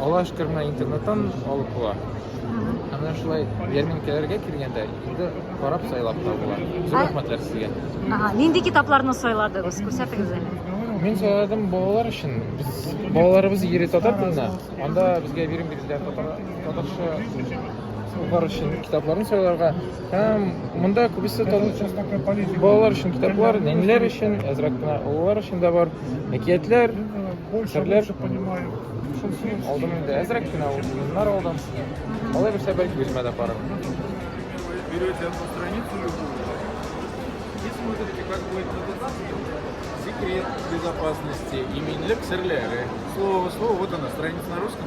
Аллаһыга шөкер, менә интернеттан алып була. Ә менә шулай ярминкәләргә килгәндә инде карап сайлап та була. Зур рәхмәтләр сезгә. Ага, нинди китапларны сайладыгыз? Күрсәтегез әле. Мин сайладым балалар өчен. Без балаларыбыз ери татар телендә. Анда безгә бирем бирделәр татар татарча Балалар өчен китапларны сайларга һәм монда күбесе балалар өчен китаплар, нәниләр өчен, әзрәк кенә олылар өчен дә бар. Әкиятләр, серләр. Алдым инде әзрәк кенә урыннар алдым. Алай берсә бәлки үземә дә барыр. Берете одну страницу любую и смотрите, как будет секрет безопасности, иминлек серляры. Слово, слово, вот она, страница на русском.